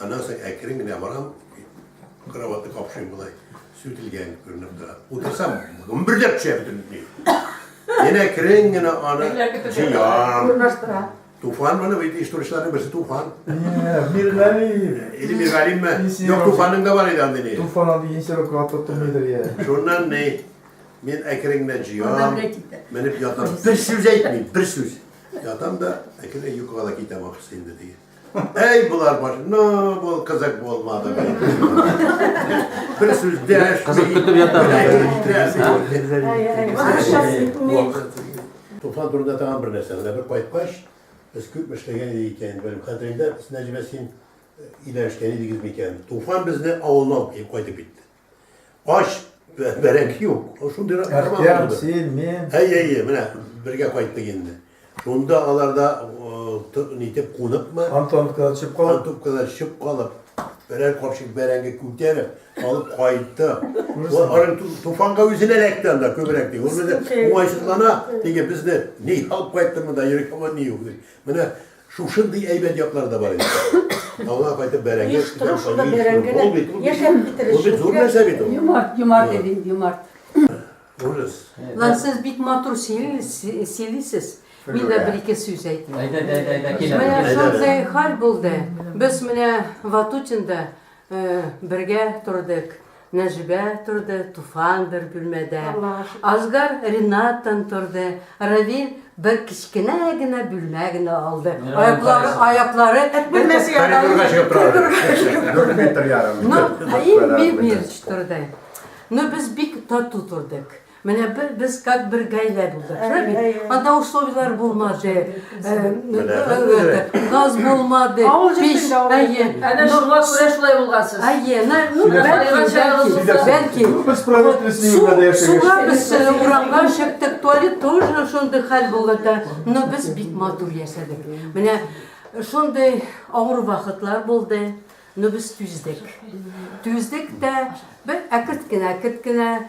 Аннан соң әкрен генә барам, кроватны капшыйм болай, сүтелгән күренеп тора. Утырсам, гөмбердәп төшә бөтен ни. Янә әкрен генә аны җыям. Урнаштыра. Туфан моны бит иштурычларның берсе Туфан. Миргалим. Или Миргалимме? Юк, Туфанның да бар иде андый ни. Туфан андый инсерок атлап тормыйдыр я. Шуннан ни, мин әкрен генә җыям, менеп ятам. Бер сүз әйтмим, бер сүз. Ятам да әкрен йокыга да китәм ахрысы инде теге. Әй, болар баш... Ну, бул кызык булмады. Бер сүз дәш. Кызык көтеп ята. Туфан турында тагын бер нәрсә. Менә бер кайткач, без күп эшләгән идек икән. Бер хәтереңдә, Нәҗибә, син өйләнешкән идегез микән? Туфан безне авылына алып кайтып китте. Ач, бә- бәрәңге юк. Ул Шундый ра- Әхтәм, кармаган ул. син, мин. Әйе, әйе, менә бергә кайттык инде. Шунда аларда э, т- нитеп куныкмы, Антоновка төшеп кал. Антупкада чып калып, берәр капчык бәрәңге күтәреп, алып кайтты. Ул аның ту- туфанга үзенә эләкте анда күбрәк ди. Ул безне уңайсызлана, диге безне ни алып кайтты монда, йөргән ни юк ди. Менә Шушындый әйбәт яклары да бар инде. Авылга кайтып бәрәңге Оештыру, шунда бәрәңге дә яшәп китерер өчен. Ул бит зур нәрсә бит ул. Юмарт, юмарт иде инде, юмарт. Ужас. Лан, сез бик матур сөйлисез. Мин дә бер-ике сүз әйтим. Әйдә, әйдә, әйдә, килә. Менә шундый хәл булды. Без менә Ватутинда Бергә тордык, Нәҗибә торды, Туфан бер бүлмәдә. Азгар Ринаттан торды, Равил бер кечкенә генә бүлмә генә алды. Аяклары, аяклары эт бүлмәсе янында. Коридорга чыгып тора. Дүрт метр ярым. Ну, и мир мир торды. Ну, без бик тату тордык. Менә бер без как бер гаилә булдык, шулай бит? Әйе, әйе. Анда условияләр булмады. Э, Менә э, бер э, грек. Газ булмады. Авыл пич- җирсендә авыл Әйе. җирсендә. Әнә Ну, шуңа күрә шулай булгансыз. Әйе, на, ну, Менә бәлки, кайган чагыбыз бәлки, булса. бәлки. Ну, без правительственный Су- өмәдә яшәгәч. Суга без э, урамга чыктык, туалет тоже шундый хәл булды да. Но без бик матур яшәдек. Менә шундый авыр вакытлар булды, но без түздек. Түздек тә бер әкерт кенә, әкерт кенә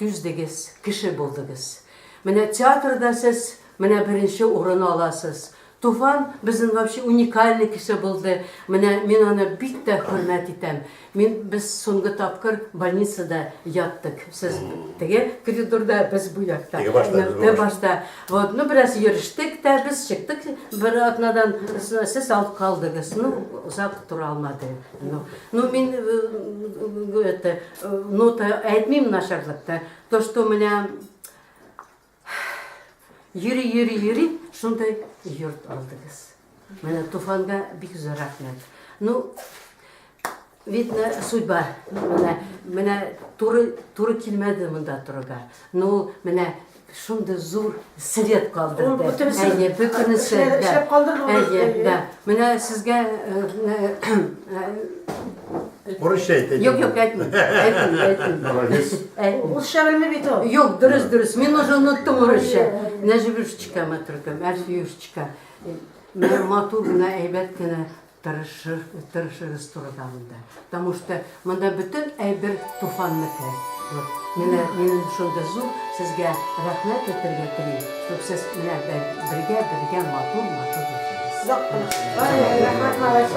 Түздегез, кеше булдыгыз. Менә театрда сез менә беренче урын аласыз. Туфан безнең вообще уникальный кеше булды. Менә мин аны бик тә хөрмәт итәм. Мин без соңгы тапкыр больницада яттык. Сез теге коридорда, без бу якта. Теге башта, без бу башта. башта. Вот, ну бераз йөрештек тә, без чыктык бер атнадан. Сез алып калдыгыз. Ну, озак тора алмады. Ну, ну мин это, нота әйтмим начарлыкта. То, что у меня йөри, йөри, йөри, шундай йорт алдыгыз. Менә туфанга бик зур рәхмәт. Ну, видно, судьба. Менә, менә туры, туры килмәде монда турыга. Ну, менә Шундый зур след калдырды. Әйе, бөтенесе. Әйе, да. Менә сезгә Урысча әйтәйте. Юк, юк, әйтмә. Әйтмә, әйтмә. Молодец. Урысча белми бит ул. Юк, дөрес, дөрес. Мин уже оныттым урысча. Нәҗибушечка матуркам, Альфиюшечка. Матур гына, әйбәт кенә Тырышыр, тырышырыз турыда монда. Потому что монда бөтен әйбер туфанныкы. Вот. Менә минем шундый зур сезгә рәхмәт әйтергә телим. Чтоб сез менә бергә, бергә матур, матур яшәгез. Озак кына. Рәхмәт, малай.